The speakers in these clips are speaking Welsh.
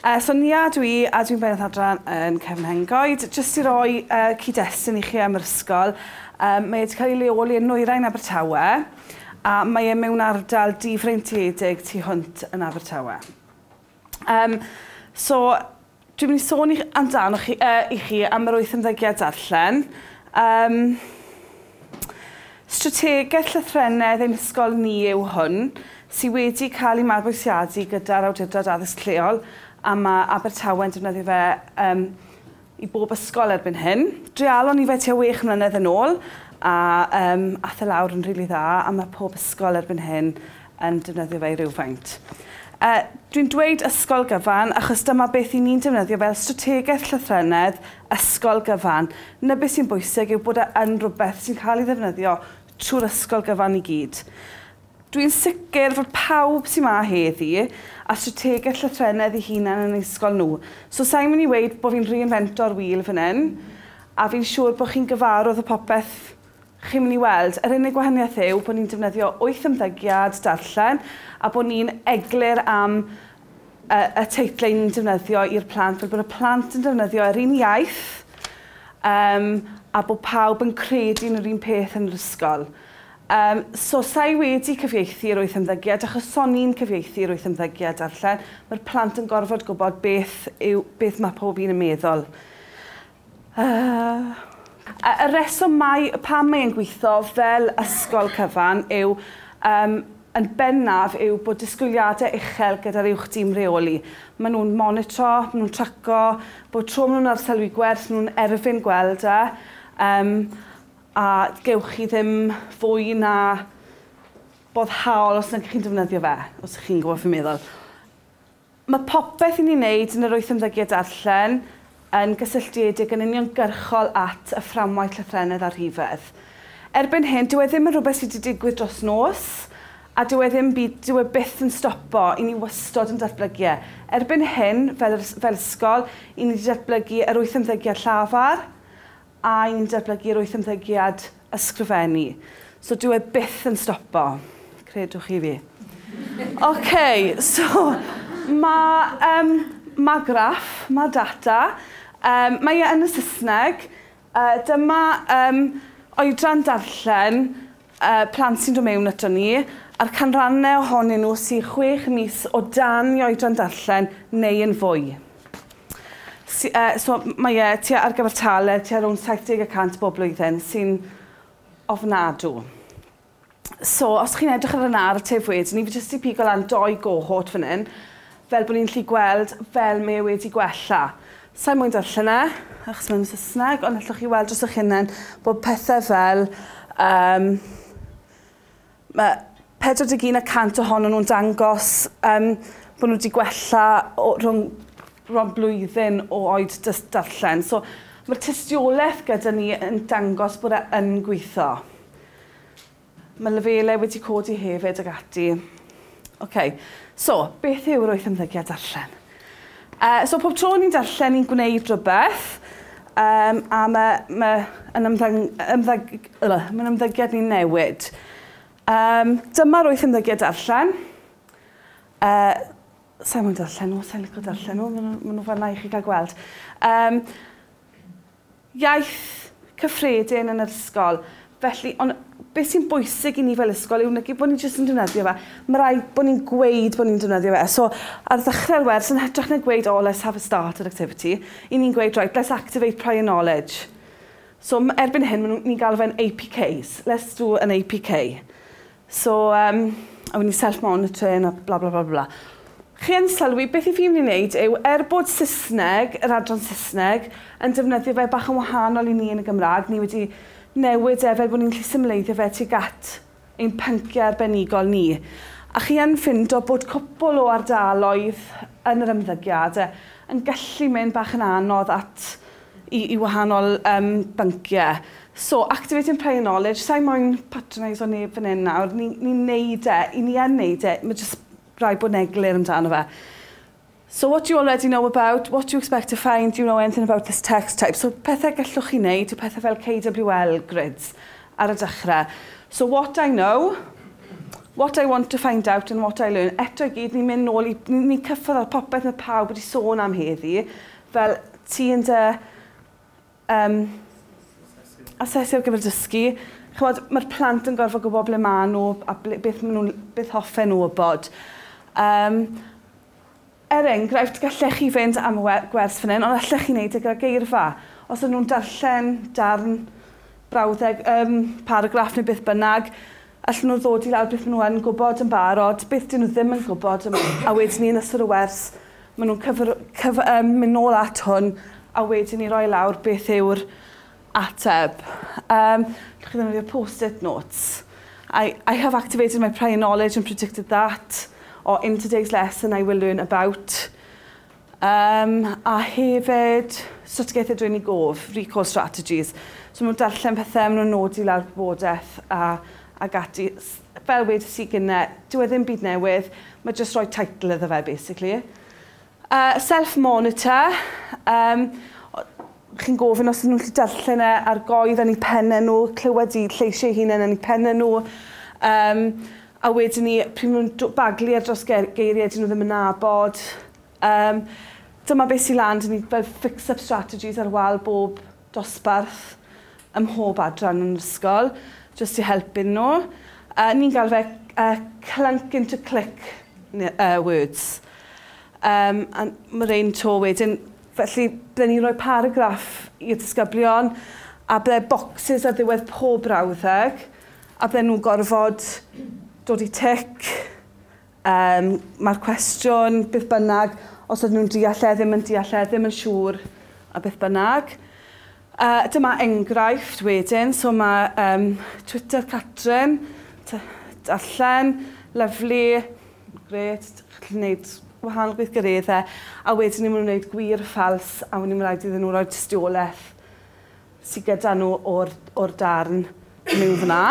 Uh, so Nia dwi, a dwi'n bennaeth adran yn Cefn Hengoed. Jyst i roi uh, cyd-destun i chi am yr ysgol, um, mae wedi cael ei leoli yn Nwyrain Abertawe, a mae e mewn ardal difreintiedig tu hwnt yn Abertawe. Um, so, Dwi'n mynd i sôn i amdanoch chi yy i chi am yr wyth ymddygiad darllen. Yym Strategeth llythrennedd ein hysgol ni yw hwn, sy wedi cael ei mabwysiadu gyda'r Awdurdod Addysg Lleol a ma' Abertawe'n defnyddio fe yym i bob ysgol erbyn hyn. Dreialon ni fe tua wech mlynedd yn ôl a yym ath e lawr yn rili dda a ma' pob ysgol erbyn hyn yn defnyddio fe i rywfaint. A dwi'n dweud ysgol gyfan achos dyma beth i ni'n defnyddio fel strategaeth llythrennedd, ysgol gyfan. Na beth sy'n bwysig yw bod e yn rhywbeth sy'n cael ei ddefnyddio trwy'r ysgol gyfan i gyd. Dwi'n sicr fod pawb sy'n ma heddi a strategaeth llythrennedd i hunan yn ysgol nhw. So sa'n mynd i weud bod fi'n reinfento'r wheel fan hyn, a fi'n siŵr bod chi'n gyfarwdd o popeth chi'n mynd i weld. Yr unig wahaniaeth yw bod ni'n defnyddio wyth ymddygiad darllen a bod ni'n eglur am y, y teitlau ni'n defnyddio i'r plant, fel bod y plant yn defnyddio yr un iaith um, a bod pawb yn credu yn yr un peth yn yr ysgol. Um, so, sa'i wedi cyfieithu'r wyth ymddygiad, achos son i'n cyfieithu'r wyth ymddygiad darllen, mae'r plant yn gorfod gwybod beth, yw, beth mae pob un yn meddwl. Yy. Y rheswm mai pam mae e'n gweithio fel ysgol cyfan yw yym yn bennaf yw bod disgwyliadau uchel gyda'r uwch dîm reoli. Maen nhw'n monitro, maen nhw'n tracio, bob tro maen nhw'n arsylwi gwerth maen nhw'n erfyn gweld e yym a gewch chi ddim fwy na boddhaol os nag chi'n defnyddio fe, os chi'n gwybod beth fi'n meddwl. Mae popeth i ni'n wneud yn yr wyth ymddygiad darllen yn gysylltiedig yn uniongyrchol at y fframwaith llythrennedd a rhifedd. Erbyn hyn, dyw e ddim yn rhywbeth sy' 'di digwydd dros nos, a dyw e ddim byd, dyw e byth yn stopo, 'yn ni wastod yn datblygu e. Erbyn hyn, fel yr, fel ysgol, 'yn ni 'di datblygu yr wyth ymddygiad llafar, A'n datblygu rwyth ymddygiad ysgrifennu. So dyw e byth yn stopo. Credwch chi fi. OK, so mae um, ma graff, mae data, um, mae e yn y Saesneg. Uh, dyma um, oedran darllen y plant sy'n dod mewn aton ni, a'r canrannau ohonyn nhw sydd chwech mis o dan i oedran darllen neu yn fwy. So mae e tua ar gyfer tale tua rownd 70 y cant bob blwyddyn, sy'n ofnadw. So os chi'n edrych ar y narratif wedyn ni, fi jyst 'di pigo lan dou gohort fan hyn. Fel bod ni'n gallu gweld fel mae e wedi gwella. Sa i'n moyn darllen e, achos mae'n Saesneg, ond allwch chi weld dros eich hunain bod pethau fel, um, mae 41 y cant ohonyn nhw'n dangos um, bod nhw wedi gwella o, rhwng rhwng blwyddyn o oed dys darllen. So, mae'r tystiolaeth gyda ni yn dangos bod e yn gweithio. Mae lefelau wedi codi hefyd ac ati. Ok, so, beth yw rwyth ymddygiad darllen? Uh, so, pob tro ni'n darllen, ni'n gwneud rhywbeth, um, a mae ma, yn ymddang, ymddang, uh, ma ymddygiad ni'n newid. Um, dyma rwyth ymddygiad darllen. Uh, Sa'n mwyn darllen nhw, sa'n licio darllen nhw, maen nhw, ma nhw fanna i chi gael gweld. Um, iaith cyffredin yn yr ysgol, felly, ond be sy'n bwysig i ni fel ysgol yw nid bod ni jyst yn defnyddio fe, mae rhaid bod ni'n gweud bod ni'n defnyddio fe. So, ar ddechrau'r wers, yn hytrach na gweud, oh, let's have a starter activity, i ni'n gweud, right, let's activate prior knowledge. So, erbyn hyn, ni'n galw fe'n APKs, let's do an APK. So um, I ni'n self-monitoring a bla bla bla bla. Chi yn sylwi, beth i fi mynd i wneud yw, er bod Saesneg, yr adran Saesneg, yn defnyddio fe bach yn wahanol i ni yn y Gymraeg, ni wedi newid e fel bod ni'n lli symleiddio fe tuag at ein pynciau arbenigol ni. A chi yn ffindo bod cwpl o ardaloedd yn yr ymddygiad yn gallu mynd bach yn anodd at i i wahanol yym byncie. So activating prior knowledge sai moyn patroneiso neb fan 'yn nawr ni ni'n neud e 'yn ni yn neud e ma' jyst raid bod yn eglur amdano fe. So what do you already know about, what do you expect to find, do you know anything about this text type so pethe gellwch chi neud yw pethe fel KWL grids ar y dechre. So what I know, what I want to find out and what I learn eto i gyd ni'n myn' nôl i ni ni'n cyffwrdd ar popeth ma' pawb wedi sôn am heddi fel ti yn dy yym asesu ar gyfer dysgu. Ch'mod ma'r plant yn gorfod gwbo ble ma' n'w a ble beth ma' nw'n beth hoffen n'w wybod. Yym er enghraifft gallech chi fynd am y we- gwers fan 'yn ond allech chi neud e gyda geirfa. Os o'n nw'n darllen darn brawddeg yym paragraff ne' beth bynnag Allen nhw ddod i lawr beth maen nhw yn gwybod yn barod, beth dyn nhw ddim yn gwybod, a wedyn ni yn ystod y wers maen nhw'n cyfer, cyf, um, mynd nôl at hwn a wedyn ni roi lawr beth yw'r ateb. Um, chi ddefnyddio post-it notes. I, I have activated my prior knowledge and predicted that, or in today's lesson I will learn about. Yym, a hefyd, strategaethau dwyn i gof, recall strategies. So maen nhw'n darllen pethau, maen nhw'n nodi lawr gwybodaeth a, ag ati. Fel wedes i gynne, dyw e ddim byd newydd, mae jyst rhoi title iddo fe, basically. Uh, self-monitor, um, chi'n gofyn os ydyn nhw'n gallu darllen e ar goedd yn eu pennau nhw, clywed eu lleisiau eu hunain yn eu pennau nhw. Um, a wedyn ni, pryd maen nhw'n baglu ar dros geiriau dyn nhw ddim yn nabod. Um, dyma beth sy'n lan, dyn ni fel fix-up strategies ar wal bob dosbarth ym mhob adran yn ysgol, jyst i helpu nhw. Uh, ni'n gael fe uh, clunk into click uh, words. Um, a mae rhain to wedyn, Felly, ble ni'n rhoi paragraff i'r disgyblion, a ble bocsys ar ddiwedd pob brawddeg, a ble nhw'n gorfod dod i tic, um, mae'r cwestiwn, beth bynnag, os ydyn nhw'n deall e, ddim yn deall e, ddim yn siŵr, a beth bynnag. Uh, dyma enghraifft wedyn, so mae um, Twitter Catrin, darllen, lyflu, Grêt, chi'n gallu gwneud wahanol gweithgareddau a wedyn ni'n mynd i wneud gwir a ffals a wedyn ni'n rhaid iddyn nhw roi tystiolaeth sydd gyda nhw o'r, o'r darn miwn fyna.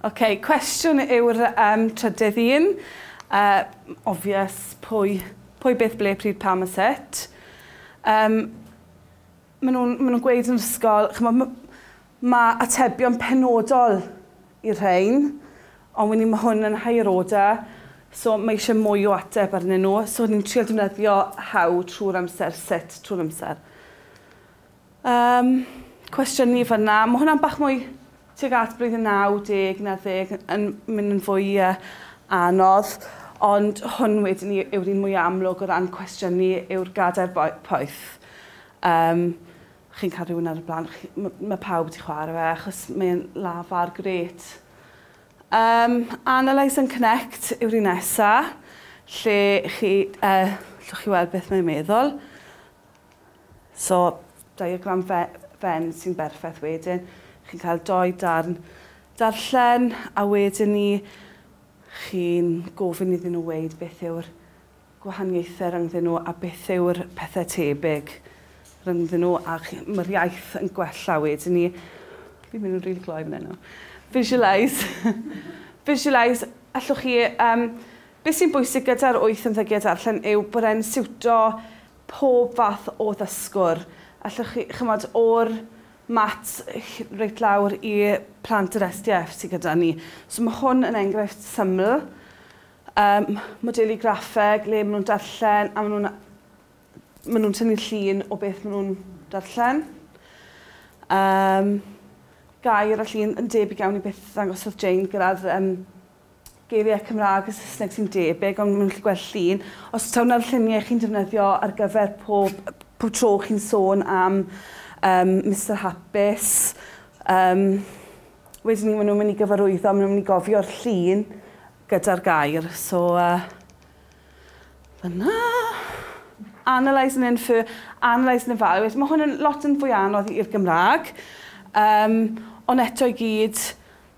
OK, cwestiwn yw'r um, trydydd un. Uh, obvious, pwy, pwy beth ble pryd pam a sut. Um, Maen nhw'n maen nhw'n gweud yn yr ysgol, chimod, m- ma' atebion penodol i'r rhain, ond wedyn ma' hwn yn higher order, so mae eisiau mwy o ateb arnyn nhw. So ni'n trio defnyddio how trwy'r amser, sut trwy'r amser. Um, cwestiwn ni fanna. Mae hwnna'n bach mwy Tuag at blwyddyn 90 na 10 yn mynd yn fwy anodd, ond hwn wedyn ni yw'r un mwyaf amlwg o ran cwestiynu yw'r gadair poeth. Yym, chi'n cael rhywun ar y blaen chi, mae pawb wedi chwarae fe achos mae'n lafar grêt. Yym, Analyse and Connect yw'r un nesa, lle chi, yy, llwch chi weld beth mae'n meddwl. So, diagram Venn sy'n berffaith wedyn. Chi'n cael dou darn darllen a wedyn ni chi'n gofyn iddyn nhw weud beth yw'r gwahaniaethau rhyngddyn nhw a beth yw'r pethau tebyg rhyngddyn nhw a mae'r iaith yn gwella wedyn ni. Fi'n mynd yn rili gloi fan hyn nawr. Visualise. Visualise. Allwch chi um, Beth sy'n bwysig gyda'r wyth ymddygiad darllen yw bod e'n siwto pob fath o ddysgwr. Allwch chi, ch'mod, o'r maths h- reit lawr i plant yr SDF sy gyda ni. So ma' hwn yn enghraifft syml. Yym, modelu graffeg le ma' nhw'n darllen a ma' nhw'n ma' nhw'n tynnu llun o beth ma' nhw'n darllen. Yym, gair a llun yn debyg iawn i beth ddangosodd Jane gyda'r yym geiriau Cymraeg a Saesneg sy'n debyg ond maen nhw'n gallu gweld llun. Os taw 'na'r lluniau chi'n defnyddio ar gyfer pob pob tro chi'n sôn am um, Mister Hapus um, wedyn ni maen nhw'n mynd i gyfarwyddo, maen nhw'n mynd i gofio'r llun gyda'r gair. So, uh, fyna. Analyse and infer, analyse and evaluate. Mae hwn yn lot yn fwy anodd i'r Gymraeg. Um, ond eto i gyd,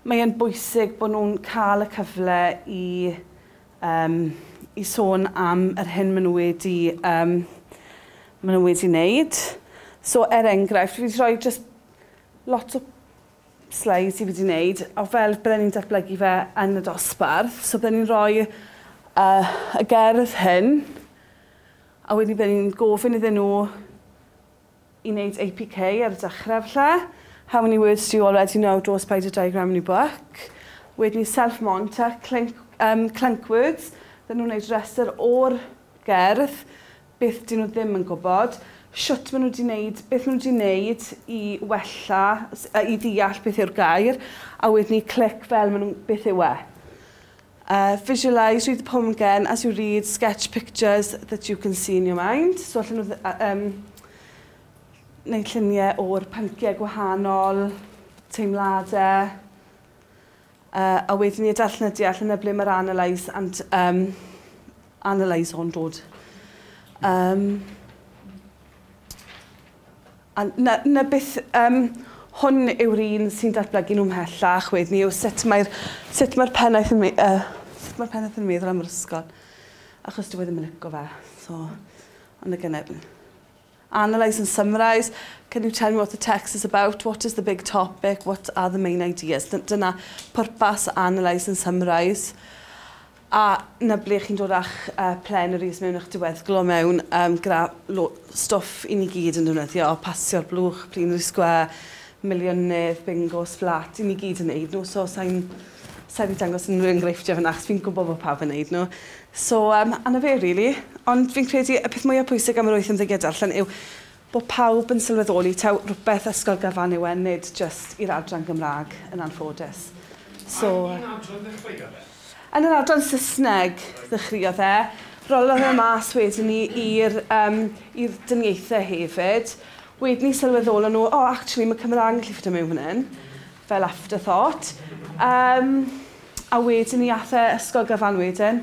Mae e'n bwysig bod nhw'n cael y cyfle i yym i sôn am yr hyn maen nhw wedi yym maen nhw wedi wneud. So er enghraifft, fi wedi rhoi jyst lot o sleids i fi wedi wneud o fel bydden ni'n datblygu fe yn y dosbarth. So bydden ni'n rhoi uh, y gerdd hyn a wedyn bydden ni'n gofyn iddyn nhw i wneud APK ar y dechrau falle. How many words do you already know draw a spider diagram in your book. Wedyn ni self monitor, clink, um, clunk words. Dyn nhw'n gwneud rhestr o'r gerdd, beth dyn nhw ddim yn gwybod, shwt maen nhw wedi gwneud, beth maen nhw wedi gwneud i wella, i ddeall beth yw'r gair, a wedyn ni click fel maen nhw, beth yw e. Uh, visualise, read the poem again as you read, sketch pictures that you can see in your mind. So allan nhw um, wneud lluniau o'r pynciau gwahanol, teimladau, uh, a wedyn ni darllen y deall yna ble mae'r analyse and um, analyse o'n dod. Um, A 'na 'na beth yym hwn yw'r un sy'n datblygu nhw mhellach wedyn 'ny yw sut mae'r sut mae'r pennaeth yn me- yy sut mae'r pennaeth yn meddwl am yr ysgol achos dyw e ddim yn lico fe so ond y gynne- analyse and summarise can you tell me what the text is about what is the big topic what are the main ideas dy- dyna pwrpas analyse and summarise A 'na ble chi'n dod â'ch plenaries mewn a'ch diweddglo mewn gyda stwff i ni gyd yn defnyddio, pasio'r blwch, plenary square, miliynedd, bingos, fflat, i ni gyd yn neud nhw so sa i'n sa i 'di dangos unrhyw enghreifftiau fan'na achos fi'n gwybod bod pawb yn neud nhw. So yym a 'na fe rili. Ond fi'n credu y peth mwya pwysig am yr wyth ymddygiad darllen yw Bod pawb yn sylweddoli taw rhywbeth ysgol gyfan yw e nid jyst i'r adran Gymraeg yn anffodus. So. Ar un adran ddechreuodd e? Yn yr adran Saesneg ddechreuodd e. Rollodd e mas wedyn ni i'r um, i'r dyniaethau hefyd. Wedyn ni sylweddolon nhw, oh actually mae Cymraeg yn gallu ffitio mewn fan hyn. Fel afterthought. Um, a wedyn ni ath e ysgol gyfan wedyn.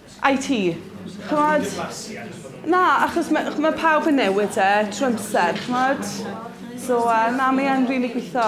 I ti. Ch'mod? Na, achos ma' ma' pawb yn newid e trw amser ch'mod? So yy na mae e'n rili gwitho.